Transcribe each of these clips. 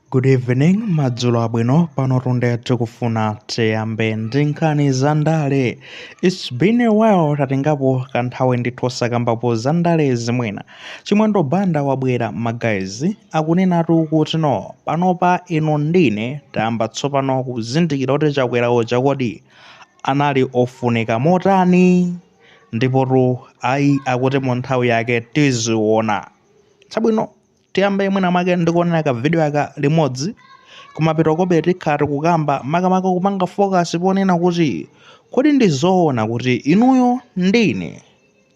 Good evening, madzulo abwino panotu nde tikufuna tiyambe ndi nkhani za ndale its been a while tatengapo kanthawi ndithu osakambapo za ndale zimenezi chimwendo banda wabwera magazi akunenatu kuti no panopa inu ndi ine tayamba tsopano kuzindikira kuti chakwera uja kodi anali ofunika motani ndipotu ayi akuti mu nthawi yake tiziona chabwino tiyambe mwina mwake ndikuonera ka video aka limodzi kumapeto kobe tikhala tikukamba makamaka kupanga focus ponena kuti kodi ndi zoona kuti inuyo ndi ine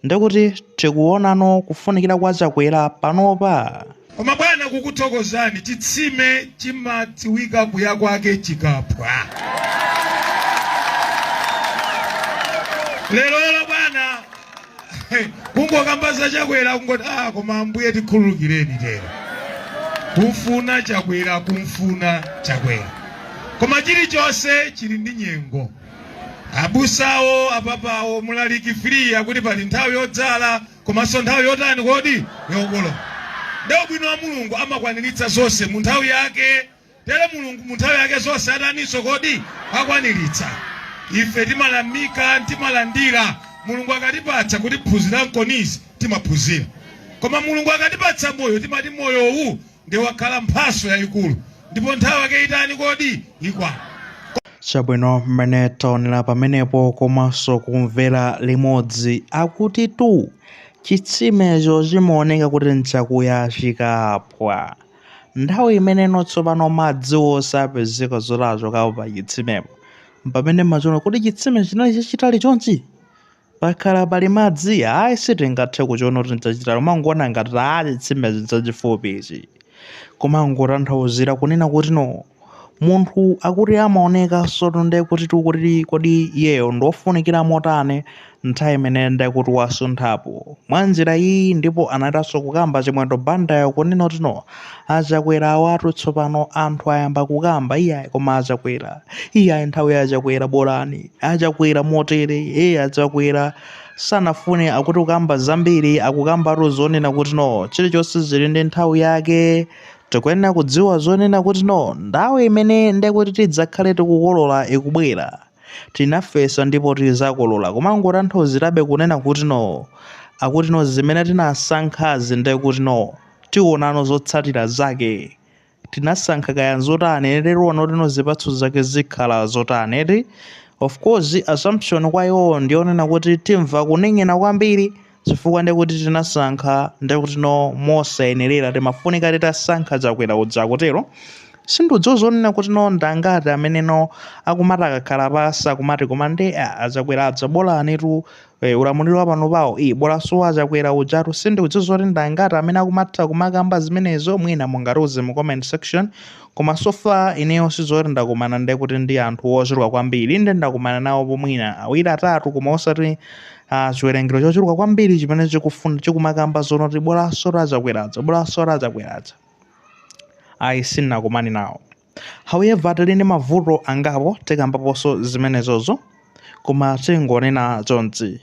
ndikuti tikuonano kufunikira kwa chakwera panopa koma bwana kukuthokozani chitsime chimadziwika kuya kwake chikaphwa lerolo bwana kungokamba za chakwera kungoti ah koma ambuye tikhululukireni tero kumfuna chakwera kumfuna chakwera koma chilichonse chili ndi nyengo abusawo apapawo mlaliki three akuti pali nthawi yodzala komanso nthawi yotani kodi yokolola nde ubwino wa mulungu amakwaniritsa zonse mu nthawi yake Tero Mulungu mu nthawi yake zonse ataninso kodi akwaniritsa. Ife timayamika, timalandira. Mulungu akatipatsa kuti phunzira nkhoni izi timaphunzira. Koma Mulungu akatipatsa moyo timati moyo uwu nde wakhala mphatso yayikulu. Ndipo nthawi yake itani kodi ikwana. Chabwino mmene taonera pamenepo komanso kumvera limodzi akutitu chitsimecho chimaoneka kuti nchakuya chikaphwa. Nthawi imeneyo tsopano madzi osapezeka zoti achokapo pa chitsimepo. Mpamene mumachiona kuti chitsime chinali chachitali chonchi? Pakhala pali madzi? Ayi sitingathe kuchiona kuti nchachitali kumangoona ngati chitsime ichi nchachifupi ichi. Kumangotanthauzira kunena kuti no munthu akuti amaonekanso nde kuti tikuti kodi iyeyo ndiofunikira motani nthawi imene nde kuti wasunthapo mwanjira iyi ndipo anathanso kukamba chimwendo bandayo kunena kuti no achakwera awatu tsopano anthu ayamba kukamba iyayi koma achakwera iyayi nthawi ya achakwera bola achakwera motere ee achakwera sanafune akuti kukamba zambiri akukambatu zonena kuti no chilichonse chili ndi nthawi yake Tikuyenera kudziwa zonena kuti no nthawi imene ndekuti tidzakhale tikukolola ikubwera. Tinafesa ndipo tidzakolola kumangotanthauzirabe kunena kuti no akuti no zimene tinasankhazi ndekuti no tionano zotsatira zake. Tinasankha kaya nzotani eti tiona kuti no zipatso zake zikhala zotani eti. Of course assumption kwa iwowo ndiyonena kuti timva kuning'ina kwambiri. chifukwa nde kuti tinasankha nde kuti no mosayenerera timafunika titasankha chakwera uja akutero sindidziwa zonena kuti no ndangati amene no akumati akakhala pasi akumati koma nde ah, achakwera aja bolanitu eh, ulamuliro wa panopawo eh, bolanso achakwera ujatu sindidziwa zoti ndangati amene akumatha kumakamba zimenezo mwina mungatiuze mu comment section koma so far ineyo sizoti ndakumana nde kuti ndi anthu ochuluka kwambiri nde ndakumana nawo mwina awiri atatu koma osati Ah, chiwerengero chochuluka kwambiri chimene chikufuna chikumakamba zono kuti bolanso achakwera aja bolanso achakwera aja ayi sinakumani nawo however tili ndi mavuto angapo tikambaponso zimenezozo koma tingonena chonchi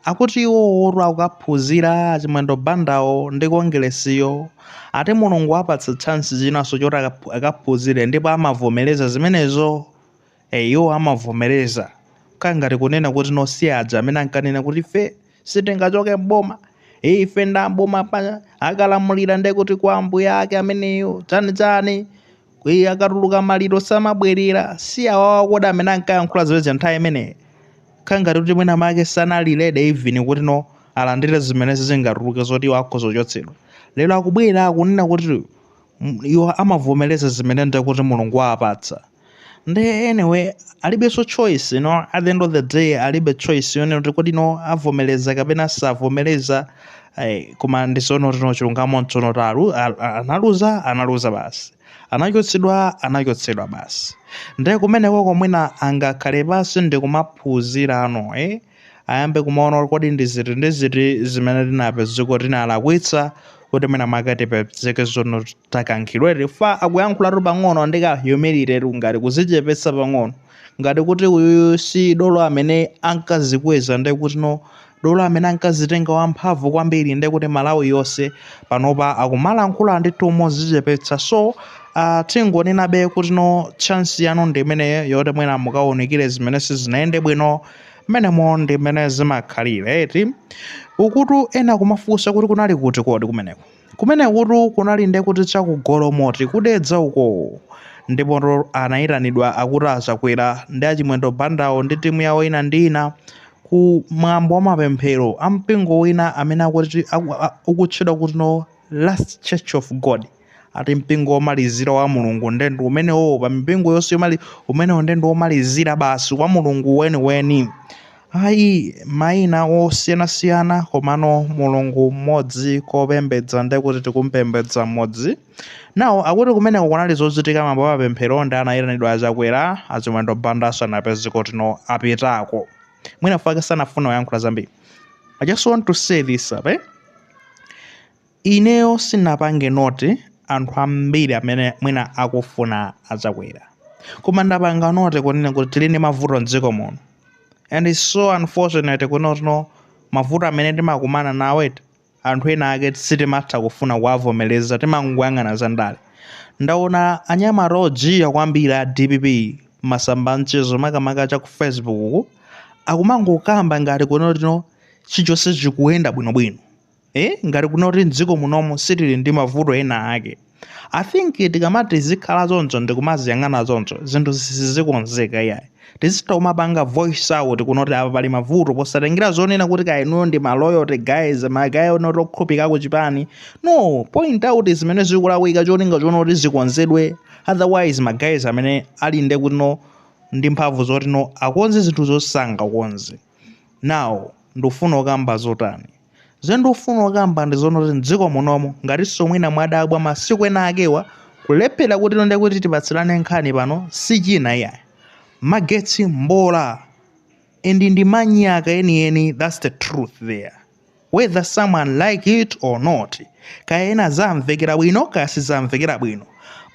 akuti iwowotu akukaphunzira achimwendo bandawo ndi kongeresiyo ati mulungu wawapatsa chance chinanso choti akaphu- akaphunzire ndipo amavomereza zimenezo Eh, iwo amavomereza kangati kunena kuti no si aja amene ankanena kuti ife sitingachoke m'boma Eh, ife nda m'boma pa akalamulira nde kuti kwa ambuyake ameneyo chani chani Kwi- akatuluka maliro samabwerera si awawa kodi amene ankayankhula zimenezo nthawi imeneyi kangati kuti mwina make sanali ready even kuti no alandire zimenezi zingatuluke zoti iwo akhoza kuchotsedwa lero akubwera akunena kuti mm, iwo amavomereza zimene nde kuti mulungu wawapatsa nde anyway alibenso choice you know, at the end of the day alibe choice yonena kuti kodi no avomereza kapena savomereza eh, koma ndizoona kuti no chilungamo nchonena kuti alu- al- al- analuza analuza basi anachotsedwa anachotsedwa basi nde kumeneko kapena mwina angakhale pansi ndikumaphunzirano eh? ayambe kumaona kuti kodi ndi ziti ndi ziti zimene tinapezeka kuti tinalakwitsa kuti mwina mwake tipezeke zono takankhidwa ife akuyankhulatu pang'ono ndi ka humility tu ngati kuzichepetsa pang'ono ngati kuti uyuyu si dolo amene ankazikweza ndi kuti no dolo amene ankazitenga wamphamvu kwambiri ndi kuti malawi yonse panopa akumalankhula ndithu mozichepetsa so uh, tingonenabe kuti no chance yanu ndi imeneyo yoti mwina mukaunikire zimene sizinayende bwino Mmenemo ndi mmene zimakhalira, eti? Ukutu ena akumafunsa kuti kunali kuti kodi kumeneko. Kumenekutu kunali nde kuti cha ku Golomoti ku Dedza uko. Ndipotu anayitanidwa akuti achakwera ndi achimwendo bandawo ndi timu yawo ina ndi ina ku mwambo wa mapemphero a mpingo wina amene akuti aku- a- ukutchedwa kuti no last church of god ati mpingo womalizira wa mulungu nde ndi umenewo pa mipingo yonse yomali umenewo nde ndi womalizira basi wa mulungu weniweni ayi mayina osiyanasiyana komano mulungu mmodzi kopembedza nde kuti tikumpembedza mmodzi nawo akuti kumeneko kunali zochitika mwambo wa mapemphero ndi anayitanidwa achakwera achimwendo banda asanapeze kuti no apitako mwina mwake sanafuna kuyankhula zambiri i just want to say this ape Ineyo sinapange note anthu ambiri amene mwina akufuna a Chakwera. Koma ndapanga note kunena kuti tili ndi mavuto m'dziko muno and it's so unfortunate kunoti no mavuto amene timakumana nawo ati anthu ena ake sitimatha kufuna kuwavomereza timangoyang'ana za ndale. Ndaona anyamata ojiya kwambiri a dpp m'masamba a mchezo makamaka cha ku Facebook uku akumangokamba ngati kunoti no chilichonse chikuyenda bwinobwino. eh, ngati kunoti mdziko munomu sitili ndi mavuto ena ake i think tikamati tizikhala choncho ndikumaziyang'ana choncho zinthu sizikonzeka iyayi tizitha kumapanga voice out kunoti apa pali mavuto posatengera zonena kuti kaya inuyo ndi maloyalty guys magaye onoti okhulupirika ku chipani no point out zimene zikulakwika cholinga chonoti zikonzedwe otherwise magays amene ali nde kuti no ndi mphamvu zoti no akonze zinthu sangakonze Now, ndufuna kukamba zotani? Zimene ndikufuna kukamba ndi zonoti mdziko munomu, ngatinso mwina mwadabwa masiku ena akewa, kulephera kuti no ndiye kuti tipatsirane nkhani pano sichina iyayi. Magetsi mbola and ndi manyaka enieni, that's the truth there. Whether someone like it or not, kaya ena zamvekera bwino kaya sizamvekera bwino.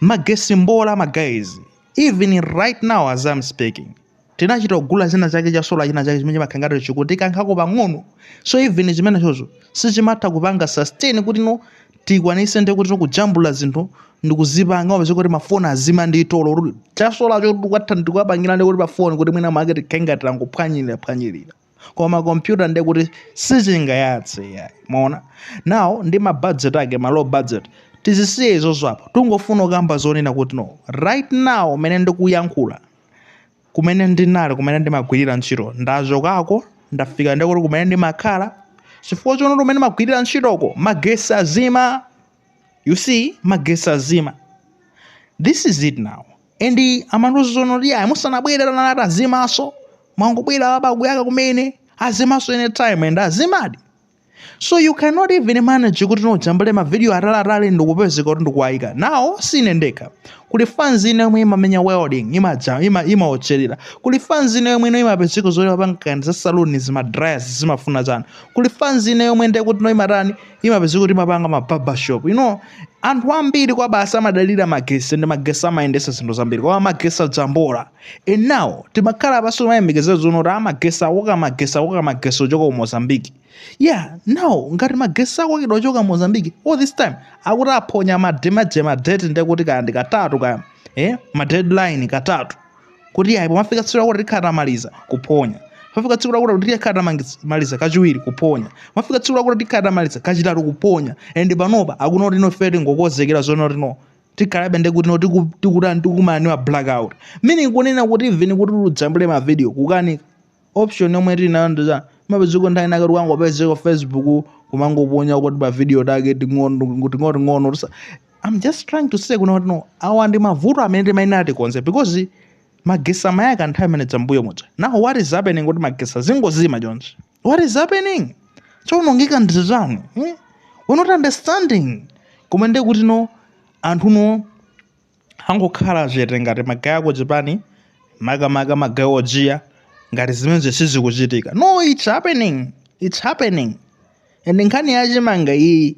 Magetsi mbola ma guys, even right now as I'm speaking. tinachita kugula china chake cha solar china chake chimene chimakhala ngati chikutikankhako pang'ono so even chimenechocho sichimatha kupanga sustain kuti no tikwanise ndi kuti kujambula zinthu ndikuzipanga wapeza kuti mafoni azima ndi tolo kuti cha solar cho tikatha ndikuwapangira ndi kuti pafoni kuti mwina mwake tikhenga tilangophwanyirira phwanyirira koma kompyuta ndi kuti sichingayatse yayi mwaona now ndi ma budget ake ma low budget tizisiye izozo apa tingofuna kukamba zonena kuti no right now mene ndikuyankhula kumene ndinali kumene ndimagwirira ntchito ndachokako ndafika ndikuti kumene ndimakhala chifukwa chonoti kumene ndimagwirira ntchitoko magesi azima you see magesi azima this is it now and amandiuza zonoti ayi musanabwere tanalati azimaso mwangobwera apa akuyaka kumene azimaso anytime and azimadi so you cannot even manage kuti no ujambule mavidiyo ataliatali ndikupezeka kuti ndikuwayika now sine ndekha kuli fans ine yomwe imamenya welding imaja ima imaotcherera kuli fans ine yomwe ino imapezeka zoti imapanga za saluni zama dryers zimafuna chani kuli fans ine yomwe nde kuti no imatani imapezeka kuti imapanga ma barbershop you know anthu ambiri kwabasi amadalira magesi ndi magesi amayendesa zinthu zambiri koma magesi aja mbola and now timakhala apaso timayembekezera zoona kuti amagesi akoka magesi akoka magesi ochoka ku mozambique yeah now ngati magesi akokedwa ochoka mozambique all this time akuti aphonya mademaje madate ndekuti kaya ndi katatu kaya eh madeadline katatu kuti yayi pomafika tsiku lakuti tikhala tamaliza kuphonya pafika tsiku lakuti kuti tikhala tamaliza kachiwiri kuphonya pafika tsiku lakuti tikhala tamaliza kachitatu kuphonya and panopa akuti no ife tingokonzekera zoona kuti no tikhalabe ndi kuti no tiku- tikutani tikumana ndi ma blackout meaning kunena kuti even kuti tijambule ma video kukanika option yomwe tili nayo ndiza mapezeko nthawi inaake tikangopezeka facebook kumangoponya kuti pa video tating'ono ting'ono tisa I'm just trying to say kunena kuti no awa ndi mavuto amene timayenera tikonze because magesi amayaka nthawi imene dzambuyo muja now what is happening kuti magesi azingozima chonchi what is happening chowonongeka ndi chani eh? we're not understanding koma ndiye kuti no anthu no angokhala chete ngati magayi akuchipani makamaka magayi ojiya ngati zimenezo sizikuchitika no it's happening it's happening and nkhani yachimanga iyi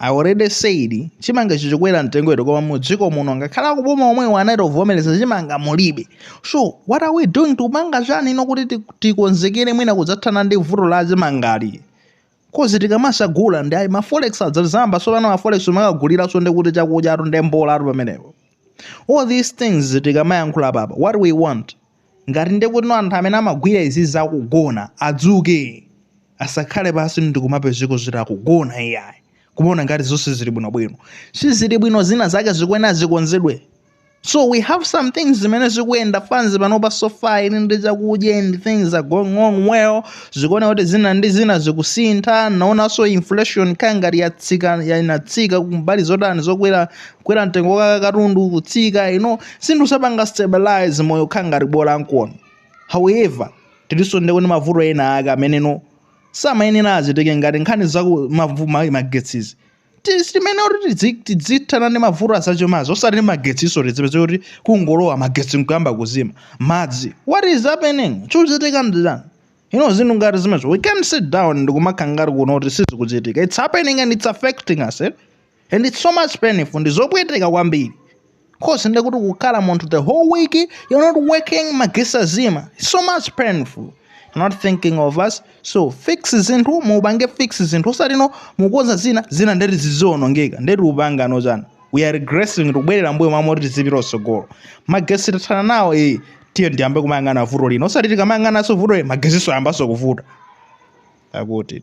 I already said chimanga chizikwera mtengo ito koma mu dziko muno ngakhale akuboma omwewo anatovomereza chimanga mulibe so what are we doing tikupanga chani ino kuti ti- tikonzekere mwina kudzathana ndi vuto la chimangali coz tikamadzagula ndi ayi maforex adzayambanso pano maforex umakaguliranso ndi kuti chakudyatu ndi mbolatu pamenepo all these things tikamayankhula apapa what we want ngati ndekuti anthu amene amagwira izizi akugona adzuke asakhale pasi ndikumapezeka zoti akugona iyayi kumaona ngati zonse zili bwino bwino sizili bwino zina zake zikuyenera zikonzedwe so we have some things zimene zikuenda fans panopa so far ili ndi chakudya and things are going on well tikuona kuti zina ndi zina zikusintha naonanso inflation kangati yatsika inatsika kumbali zotani zokwera kwera mtengo wa katundu kutsika you know zinthu zapanga stabilize moyo kukhala ngati bola nkono however tilinso ndi kuti mavuto ena ake amene no samayenera azitike ngati nkhani za ku- mavu- ma- magetsizi Ti- timayenera kuti tidzi- tidzithana ndi mavuto azachumazi osati ndi magetsiso tizipezeka kuti kungolowa magetsi nkuyamba kuzima madzi what is happening chikuchitika ndi chani ino zinthu ngati zimenezo we can't sit down ndikumakhala ngati kunena kuti sizikuchitika it's happening and it's affecting us eh? and it's so much painful ndizopweteka kwambiri cause ndekuti kukhala munthu the whole week you're not working magetsi azima it's so much painful not thinking of us so fix zinthu muupange fix zinthu osati mukonza zina zina ndeti zizionongeka ndeti mupangano chani we are regressing tikubwerera mbuyo m'malo moti tizipita kutsogolo magetsi tathana nawo e tiye tiyambe kumayang'ana vuto lino osati tikamayang'ananso vuto e magetsinso ayambanso kuvuta akuti